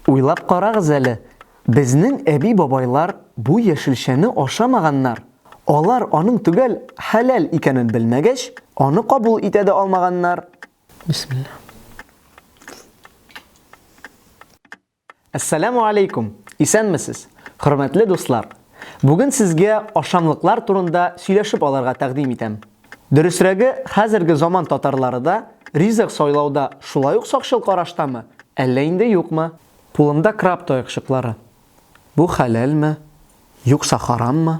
Уйлап карагыз әле, безнең әби-бабайлар бу яшелчәне ашамаганнар, алар аның төгәл хәләл икәнен белмәгәч, аны кабул итә дә алмаганнар. Бисмилла. Әссәләмү алейкум! Исәнмесез! Хөрмәтле дуслар! Бүген сезгә ашамлыклар турында сөйләшеп алырга тәкъдим итәм. Дөресрәге, хәзерге заман татарлары да ризык сайлауда шулай ук сакчыл караштамы, әллә инде юкмы? Кулымда краб таякчыклары. Бу хәләлме, юкса хараммы?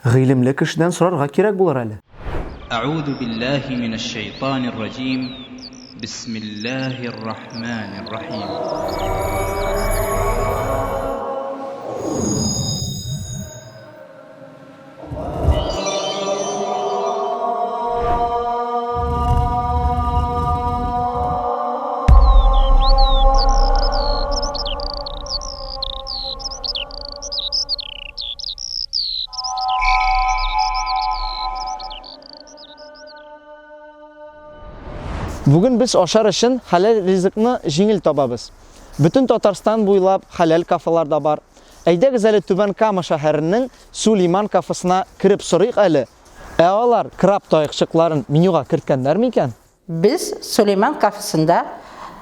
Гыйлемле кешедән сорарга кирәк булыр әле. Әгуду билләһи минәш шәйтанир раҗим, бисмилләһир рахманир рахим. Бүген без ашар өчен хәләл ризыкны җиңел табабыз. Бөтен Татарстан буйлап хәләл кафелар да бар. Әйдәгез әле Түбән Кама шәһәренең Сулейман кафесына кереп сорыйк әле, ә алар краб таякчыкларын менюга керткәннәр микән? Без Сулейман кафесында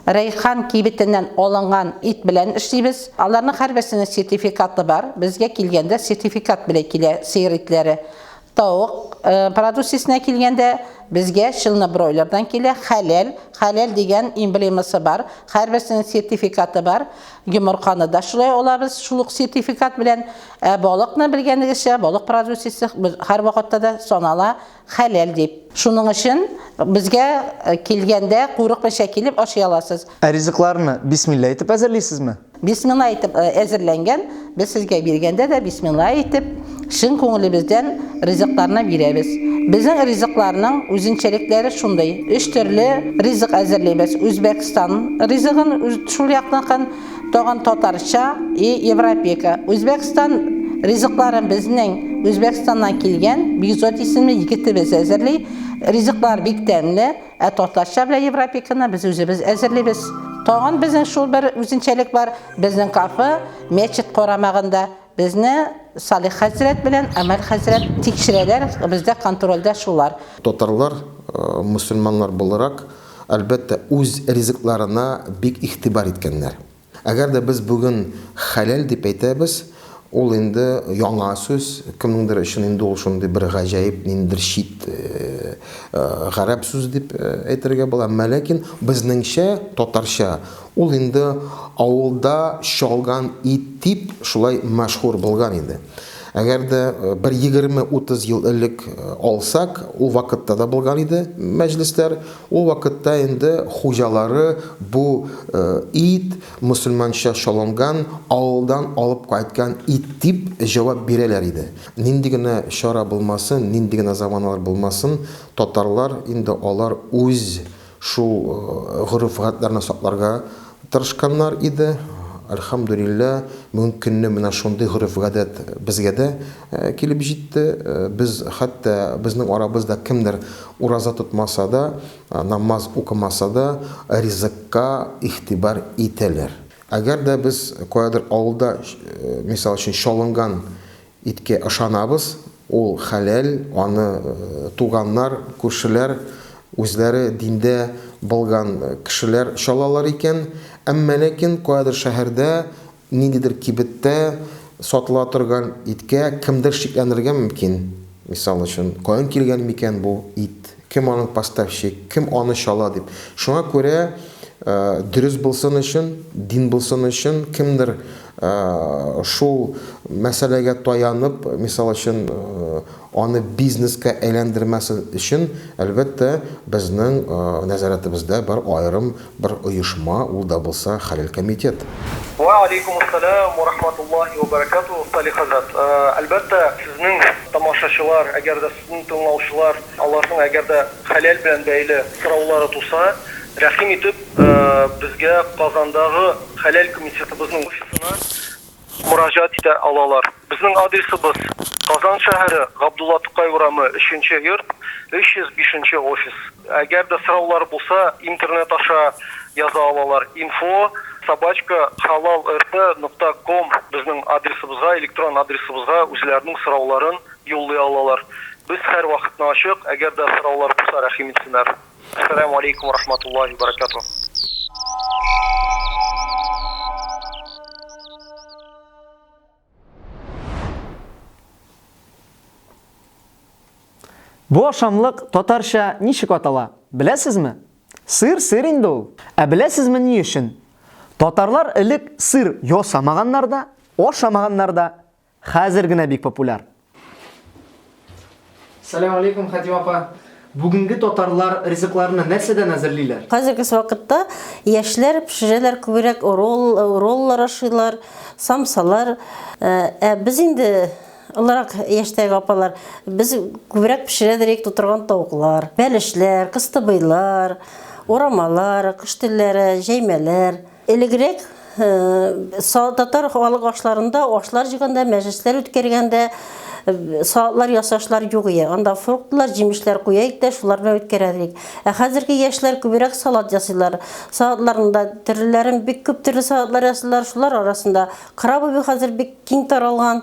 Рәйхан кибетеннән алынган ит белән эшлибез. Аларның һәрберсенең сертификаты бар. Безгә килгәндә сертификат белән килә сыер итләре. Тавык продукциясенә килгәндә, безгә чылны бройлердан килә, хәләл, хәләл дигән эмблемасы бар, һәрберсенең сертификаты бар. Йомырканы да шулай алабыз, шул ук сертификат белән. Ә балыкны, белгәнегезчә, балык продукциясе һәрвакытта да санала хәләл дип. Шуның өчен безгә килгәндә, курыкмыйча килеп ашый аласыз. Ә ризыкларны бисмилла әйтеп әзерлисезме? Бисмилла әйтеп әзерләнгән, без сезгә биргәндә дә бисмилла әйтеп, чын күңелебездән ризыкларны бирәбез. Безнең ризыкларның үзенчәлекләре шундый, өч төрле ризык әзерлибез, Үзбәкстан ризыгын, шул якныкын, тагын татарча и европейка. Үзбәкстан ризыкларын безнең Үзбәкстаннан килгән Бигзот исемле егетебез әзерли, ризыклар бик тәмле. Ә татарча белән европиканы без үзебез әзерлибез. Тагын безнең шул бер үзенчәлек бар, безнең кафе мәчет карамагында. Безне Салих хәзрәт белән Амәл хәзрәт тикшерәләр, бездә контрольдә шулар. Татарлар, мөселманнар буларак, әлбәттә, үз ризыкларына бик игътибар иткәннәр. Әгәр дә без бүген хәләл дип әйтәбез, ул инде яңа сүз, кемнеңдер өчен инде ул шундый бер гаҗәеп, ниндидер чит гарәп сүзе дип әйтергә була. Әмма ләкин безнеңчә, татарча, ул инде авылда чалган ит дип шулай мәшһүр булган инде. Әгәр дә бер егерме-утыз ел элек алсак, ул вакытта да булган иде мәҗлесләр. Ул вакытта инде хуҗалары бу ит, мөселманча чалынган, авылдан алып кайткан ит дип җавап бирәләр иде. Нинди генә чара булмасын, нинди генә заманалар булмасын, татарлар инде алар үз шул гореф-гадәтләрне сакларга Тырышканнар иде, әлхәмдүлилләһ, бүгенге көнне менә шундый гореф-гадәт безгә дә килеп җитте. Без хәтта безнең арабызда кемдер ураза тотмаса да, намаз укымаса да, ризыкка игътибар итәләр. Әгәр дә без каядыр авылда, мисал өчен, чалынган Иткә ышанабыз, ул хәләл, аны туганнар, күршеләр, үзләре диндә былган кешеләр чалалар икән. Әмма ләкин каядыр шәһәрдә, ниндидер кибеттә сатыла торган иткә кемдер шикләнергә мөмкин. Мисал өчен, каян килгән микән бу ит? Кем аның поставщик, кем аны чала дип. Шуңа күрә дөрес булсын өчен, дин булсын өчен, кемдер шул мәсьәләгә таянып, мисал өчен, аны бизнеска әйләндермәсен өчен, әлбәттә, безнең нәзарәтебездә бар аерым бер оешма, ул да булса Хәләл комитет. Вә алейкумуссәлам вә рахматуллаһи вә бәрәкәтүһ, Салих хәзрәт. Әлбәттә, сезнең тамашачылар, әгәр дә Ул тыңлаучылар, аларның әгәр дә хәләл белән бәйле сораулары туса, рәхим итеп, безгә Казандагы Хәләл комитетыбызның офисына мөрәҗәгать итә алалар. Безнең адресыбыз, Казан шәһәре, Габдулла Тукай урамы, өченче йорт, 305 нче офис. Әгәр дә сораулары булса, интернет аша яза алалар, info собачка halalrp нокта com безнең адресыбызга, электрон адресыбызга үзләренең сорауларын юллый алалар. Без хәр вакытны ачык, әгәр дә сораулар булса рәхим итсенәр. Әссәләмү алейкум рахматуллаһи ва баракатуһ. Бу ашамлык татарча ничек атала, беләсезме? Сыр сыр инде ул. Ә беләсезме ни өчен? Татарлар элек сыр ясамаганнар да, ашамаганнар да. Хәзер генә бик популяр. Сәлам алейкум, Хәтим апа. Бүгенге татарлар ризыкларны нәрсәдән әзерлиләр? Хәзерге вакытта яшьләр пешерәләр күбрәк ролл, роллар ашыйлар, самсалар. Ә э, без инде олырак яшьтәге апалар без күбрәк пешерәдер идек тутырган тавыклар, бәлешләр, кыстыбыйлар, урамалар, кыш телләре, җәймәләр. Элегрәк татар халык ашларында ашлар җыганда, мәҗлесләр үткәргәндә салатлар ясашлар юк ие. Анда фруктлар, җимешләр куя идек тә, шулар белән үткәрә идек. Ә хәзерге яшьләр күбрәк салат ясыйлар. Салатларында төрлеләрен бик күп төрле салатлар ясыйлар. Шулар арасында крабовый хәзер бик киң таралган.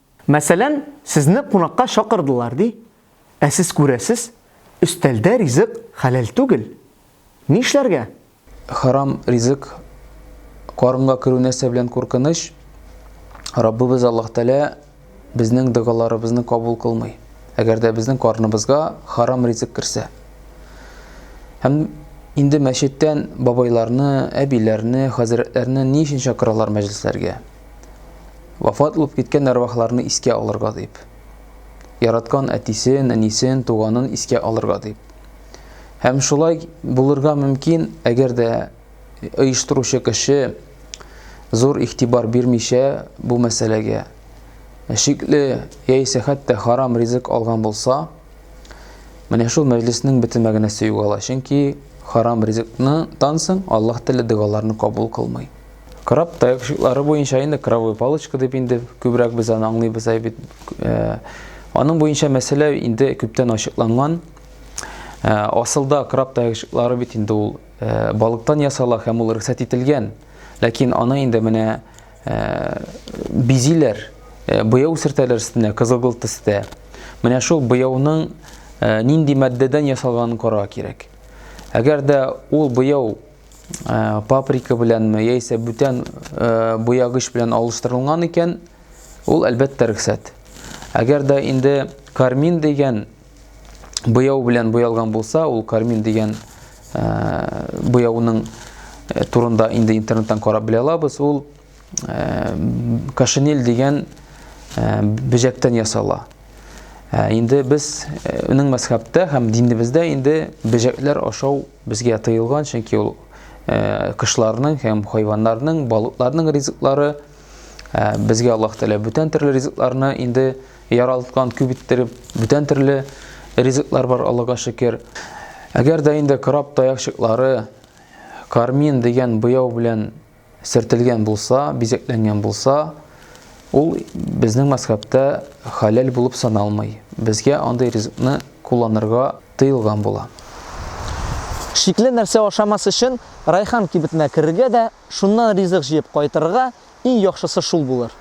Мәсәлән, сезне кунакка чакырдылар, ди. Ә сез күрәсез, өстәлдә ризык хәләл түгел. Нишләргә? Харам ризык карынга керү нәрсә белән куркыныч? Раббыбыз Аллаһ Тәгалә безнең догаларыбызны кабул кылмый, әгәр дә безнең карныбызга харам ризык керсә. Һәм инде мәчеттән бабайларны, әбиләрне, хәзрәтләрне ни өчен чакыралар мәҗлесләргә? Вафат булып киткән әрвахларны искә алырга дип. Яраткан әтисен, әнисен, туганын искә алырга дип. Һәм шулай булырга мөмкин, әгәр дә оештыручы кеше зур игътибар бирмичә бу мәсьәләгә шикле яисә хәтта харам ризык алган булса, менә шул мәҗлеснең бөтен мәгънәсе югала, чөнки харам ризыкны тансың, Аллаһ теле догаларны кабул кылмый. Краб таякшыклары буенча инде кровой палочка дип инде күбрәк без аны аңлыйбыз бит. Э, аның буенча мәсьәлә инде күптән ачыкланган. Э, асылда краб таякшыклары бит инде ул э, балыктан ясала һәм ул рөхсәт ителгән. Ләкин аны инде менә бизиләр, буяу сертәләр өстенә кызылгыл төстә. Менә шул буяуның нинди матдәдән ясалганын карау кирәк. Әгәр дә ул буяу э, паприка беләнме яисә бүтән э, буягыч белән алыштырылган икән, ул әлбәттә рөхсәт. Әгәр дә инде кармин дигән буяу белән буялган булса, ул кармин дигән э, буяуның э, турында инде интернеттан карап белә алабыз. Ул э, кашинель дигән бөҗәктән ясала. Инде без уның мәсхәптә һәм динебездә инде бөҗәкләр ашау Безгә тыелган, чөнки ул кошларның һәм хайваннарның, балыкларның ризыклары. Безгә Аллаһ Тәгалә бүтән төрле ризыкларны инде яралткан, күп иттереп, бүтән төрле ризыклар бар, Аллага шөкер. Әгәр дә инде краб таякчыклары кармин дигән буяу белән сөртелгән булса, бизәкләнгән булса, ул безнең мәзхәбтә халәл булып саналмый. Безгә андый ризыкны кулланырга тыелган була. Шикле нәрсә ашамас өчен райхан кибетенә керергә дә, шуннан ризык җыеп кайтырга, иң яхшысы шул булыр.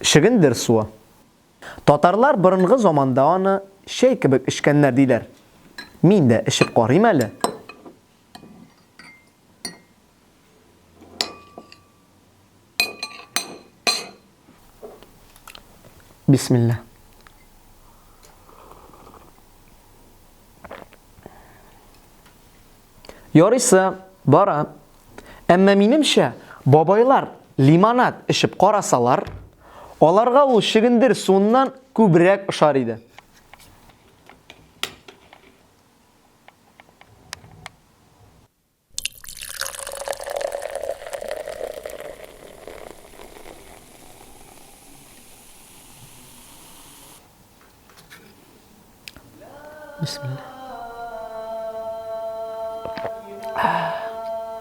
Шигендер суы. Татарлар борынгы заманда аны чәй кебек эчкәннәр диләр. Мин дә эчеп карыйм әле. Бисмилла. Ярыйсы бара. Әмма минемчә, бабайлар лимонад эчеп карасалар, аларга ул шигендер суыннан күбрәк ошар иде.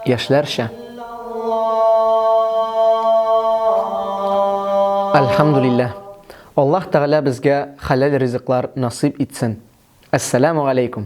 яшьләрчә Альхамдулилләһ. Аллаһ Тәгалә безгә хәләл ризыклар насыйп итсен. Әссәләмү галәйкүм!